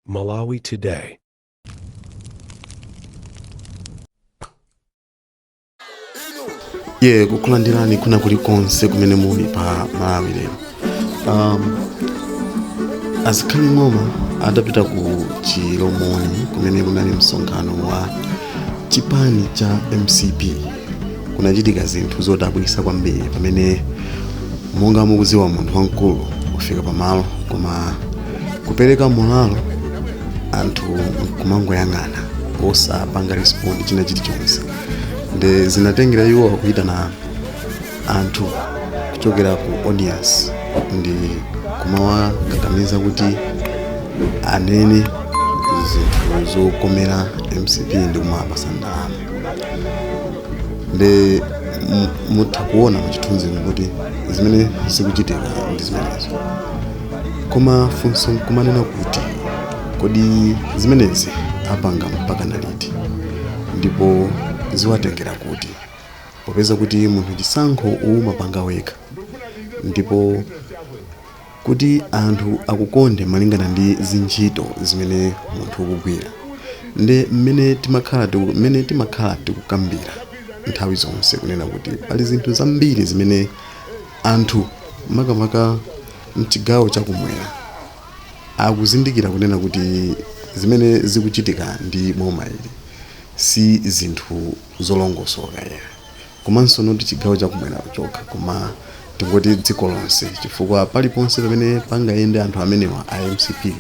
Malawi Today. ye kukulandirani kuna kuli konse kumene muli pa malawi lero um, azikhali ng'oma adapita ku chilomoni kumene kunali msonkhano wa chipani cha mcp kunachitika zinthu zodabwisa kwambiri pamene monga mukuziwa munthu wamkulu kufika pamalo koma kupereka mulalo anthu kumangoyang'ana osapanga respond china chilichonse nde zinatengera iwo kuyitana anthu kuchokera ku audience ndi kumawakakamiza kuti anene zinthu zokomera mcp ndi kumapasa ndalama nde mutha kuona muchithunzimo kuti zimene zikuchitika ndi zimenezo koma funso nkumanena kuti kodi zimenezi apanga mpaka na liti ndipo ziwatengera kuti popeza kuti munthu chisankho umapanga wekha ndipo Kuti anthu akukonde malingana ndi zintchito zimene munthu ukugwira nde mmene timakhala mmene timakhala tikukambira nthawi zonse kunena kuti pali zinthu zambiri zimene anthu makamaka mchigawo cha kumwera akuzindikira kunena kuti zimene zikuchitika ndi boma ili si zinthu zolongosoka ayi. komanso not chigawo chakumwera chokha koma tingoti dziko lonse chifukwa paliponse pamene pangayende anthu amenewa a mcp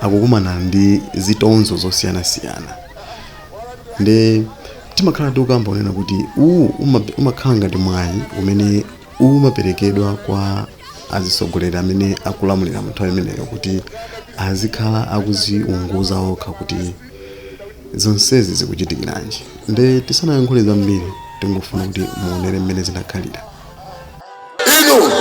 akukumana ndi zitonzo zosiyanasiyana nde timakhala tikukamba kunena kuti uwu uma- umakhala ngati mwayi umene umaperekedwa kwa azisogoleri amene akulamulira mu nthawi imeneyo kuti azikhala akuziunguza okha kuti zonsezi zikuchitikiranji nde tisanayankhule zambiri tingofuna kuti muonere mmene zinakhalira inu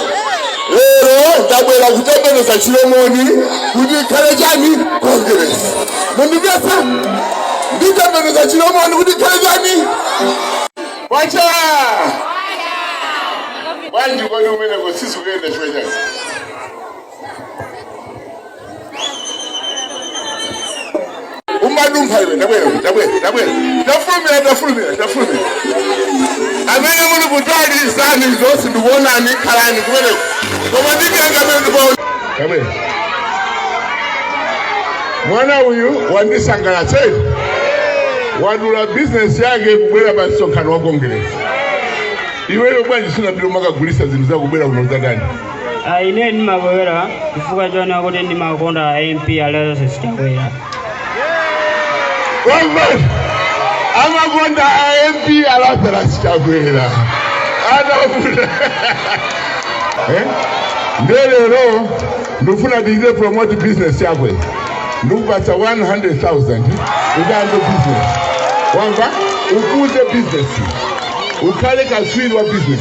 lero ndabwera kutembenuza chilomoni kuti ikhale chani kongeresi mundimvetsa nditembenuza chilomoni kuti ikhale chani kwacha bwanji kodi umeneko sisi kuyenda chwechazi umadumpha iwe tabwera tabwera tabwera tafulumira tafulumira tafulumira amene muli kutali zani zonse ndikuonani khalani kumeneko koma ndikanga amene ndikuona tabwera mwana uyu wandisangalatsa wadula bizinesi yake kubwera pa msonkhano wa kongeresi iweyo bwanji sunapita umakagulisa zinthu zakubwera kuno zakani Ah, ine ndimabwera chifukwa chonena kuti ndimakonda a mp a lazarus chakwera Mwamva amakonda a MP a Lazarus Chakwera anavuta eh? Ndiye lero ndifuna ndichite promote business yakwe ndikupatsa 100,000 uyambe business wamva ukuze business ukhale katswiri wa business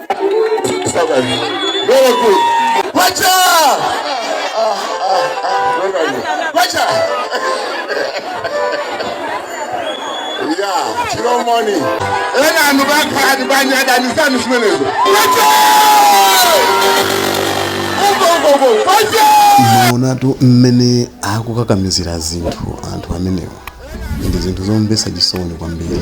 Very good. Kwacha! Kwacha! Yeah, Chiro money. Ena anu bakha anu banya anu sanu simenezo. Kwacha! Ugo ugo ugo. Kwacha! maonatu mmene akukakamizira zinthu anthu amenewa ndi zinthu zomvetsa chisoni kwambiri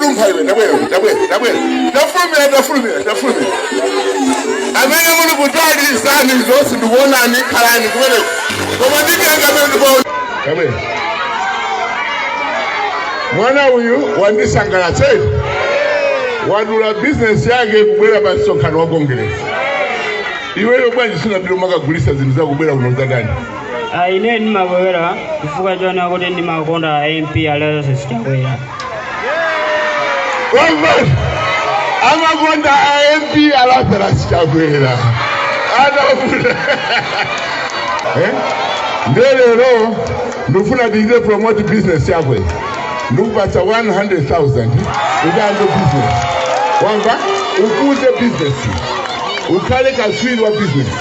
undimva iwe tabwera tabwera tabwera tafulumira tafulumira tafulumira amene muli kutsalira zonse ndikuonani khalani kumeneko koma nditenga amene ndikuona tabwera mwana uyu wandisangalatsa wadula bizinesi yake kubwera pa msonkhano wa kongeresi iweyo bwanji sunapita umakagulisa zinthu zako kubwera kuno za ndani Ah, ine ndimabwera chifukwa chonena kuti ndimakonda a mp a lazarus chakwera Mwamva amakonda a MP Lazarus Chakwera anavuta eh? Nde lero ndifuna ndichite promote business yakwe ndikupatsa 100,000 uyambe business wamva ukuze business ukhale kaswiri wa business